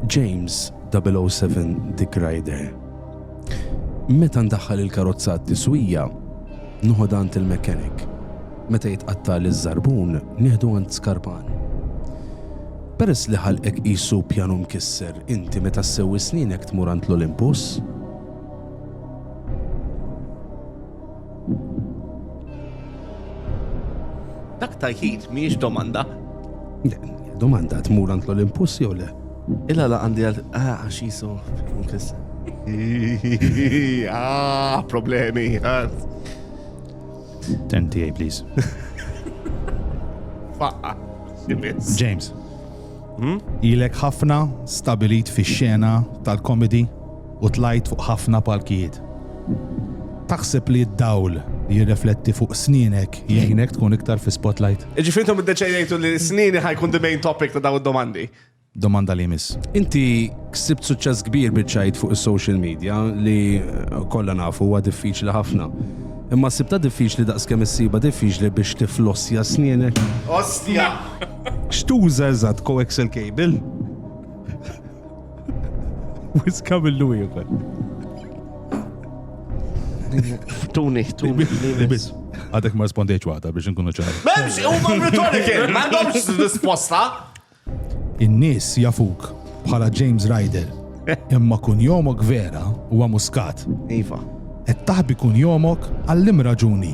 James 007 Dick Ryder Meta ndaħħal il-karozza għat-tiswija, noħodha għand il-mechanic. Meta jitqattagħli ż-żarbun, nieħdu għand skarpan. Peress li ħalqek qisu pjanu mkisser, inti meta ssewwi snienek tmur għand l-Olympus? Dak tajħid miex domanda. Domanda tmur għand l-Olympus jew le? Illa la għandi għal ah, għax jisu kis. Ah, problemi. Ah. Tenti, please. Faqqa. James. Hmm? Ilek ħafna stabilit fi xena tal-komedi u tlajt fuq ħafna palkijiet. Taħseb li d-dawl li jirrefletti fuq sninek jgħinek tkun iktar fi spotlight? Ġifintom id-deċejtu li snini ħajkun the main topic ta' daw id-domandi. Domanda li mis. Inti ksibt suċċess kbir biċċajt fuq is-social media li eh, kollha nafu huwa diffiċli ħafna. Imma sibta diffiċli daqskemm issiba diffiċli biex tiflossja snienek. Ostja! X'tuża eżatt, coaxial cable? Wiska millu ieħor. Tuni, tuni, tuni. Għadek ma rispondieċ waħda biex nkunu ċar. Memx, u ma retorikin, ma għandhomx risposta. In-nies jafuk bħala James Ryder. Imma kun jomok vera u muskat. Iva. Et taħbi kun jomok għallim raġuni.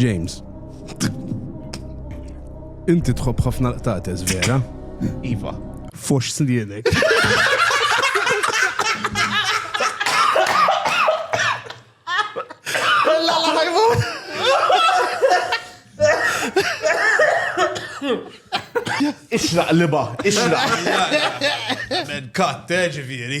James. Inti tħobb ħafna l-qtates, vera? Iva. Fox slienek. Ixraq liba, ixraq. Men katte eh, ġifieri.